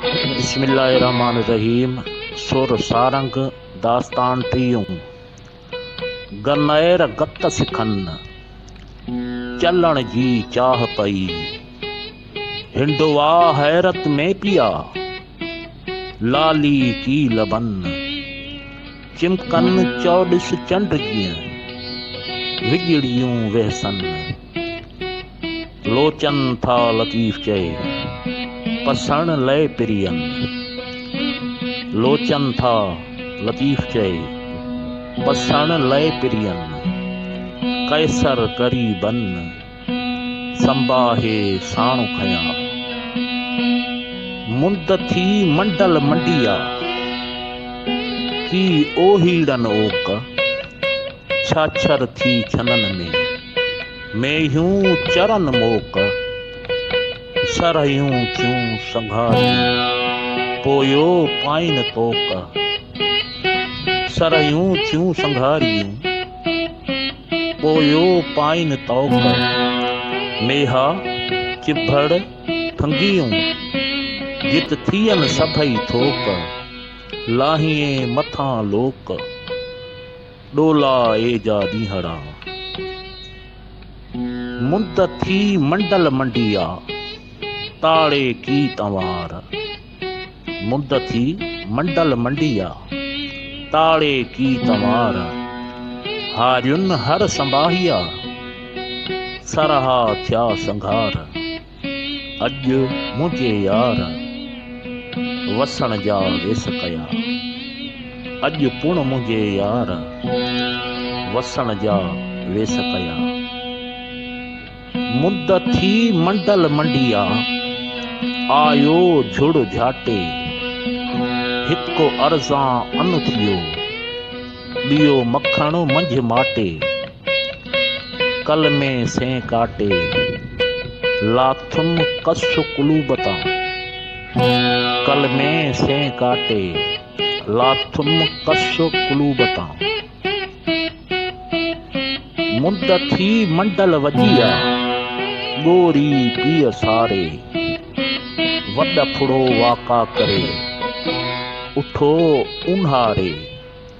بسم الله الرحمٰن الرحيم سر سارنگ داستان ٽيون گنئر گت سکن چلڻ جي چاھ پئي ھنڊوا حيرت ۾ پيا لالي ڪي لبن چمڪن چئو ڏس چنڊ جيئن وڄڙيون ويھسن لوچن ٿا لطيف چئي پسڻ لئي پرين لوچن ٿا لطيف چئي پسڻ لئي پرين قيصر ڪري بن سنباهي ساڻ کنيا مند ٿي منڊل منڊيا ڪي اوهيڙن اوڪ ڇاڇر ٿي ڇنن ۾، مينهيون چرن موڪ، سرهيون ٿيون سنگهاري، پويو پائين طوق. سرهيون ٿيون سنگهاري، پويو پائين طوق. ميها چڀڙ ٺنگيون، جت ٿين سڀئي ٿوڪ، لاهين مٿان لوڪ. ڏولا اي جا ڏينهڙا، مند ٿي منڊل منڊيا، تاڙي ڪي تنوار، مند ٿي منڊل منڊيا، تاڙي ڪي تنوار، هارين هر سنباهيا، سرها ٿيا سنگهار. اڄ منهنجي يار وسڻ جا ويس ڪيا اڄ پڻ منهنجي يار وسڻ جا ويس ڪيا مند ٿي منڊل منڊيا آيو جھڙ جھاٽي هڪ ارزان ان ٿيو ٻيو مکڻ منجھ ماٽي ڪل ۾ سين ڪاٽي، لاٿم ڪس قلوب تان. ڪل ۾ سين ڪاٽي، لاٿم ڪس قلوب تان. مند ٿي منڊل وڄي آ، ڳوري پيء ساري. وڏ ڦڙو واڪا ڪري، اٺو اونهاري.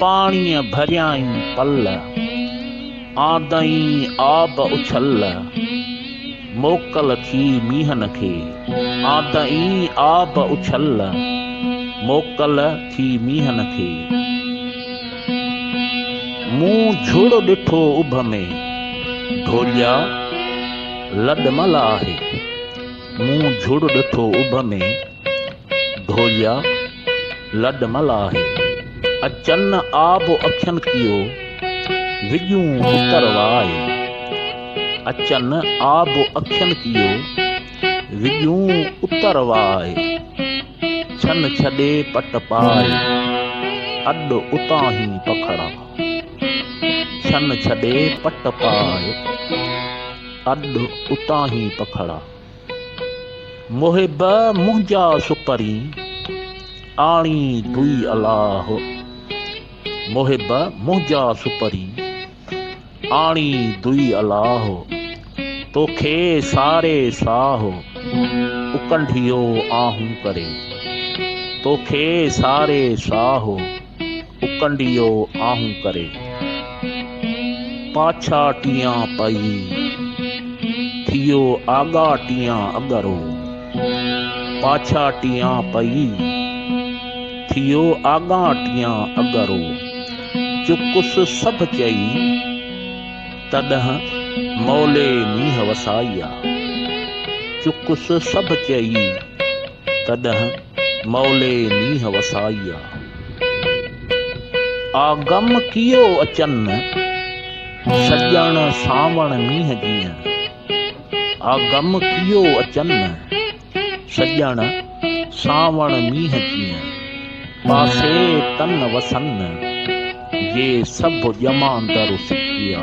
پاڻيء ڀريائين پل، آندئين آب اڇل. موڪل ٿي مينهن کي، آندئين آب اڇل. موڪل ٿي مينهن کي. مون جھڙو ڏٺو اڀ ۾، ڍوليا لڏ مل آهي. مون جھڙو ڏٺو اڀ ۾. ڍوليا لڏ مل آهي، اچن آب اکين ڪيو، وڄون اتر وائي. اچن آب اکين ڪيو، وڄون اتر وائي. ڇن ڇڏي پٽ پائي، اڏ اتانهين پکڙا. ڇن ڇڏي پٽ پائي، اڏ اتانهين پکڙا. محب منهنجا سپرين، آڻي دوئي الله محب منهنجا سپرين، آڻي دوئي الله توکي ساري ساه، اڪنڍيو آهون ڪري توکي ساري ساه. اڪنڊيو آهون ڪري، پاڇا ٽيان پئي، ٿيو آڳا ٽيان اڳرو، پاڇا ٽيان پئي، ٿيو آڳا ٽيان اڳرو، چڪس سڀ چئي، تڏهن مولي مينهن وسائي آ، چڪس سڀ چئي. تڏهن مئلي مينهن وسائي آ. آ غم ڪيئو اچن سڄڻ سانوڻ مينهن جيئن. آ غم ڪيئو اچن سڄڻ سانوڻ مينهن جيئن. پاسي تن وسن جي سڀ ڄماندر سکي آ.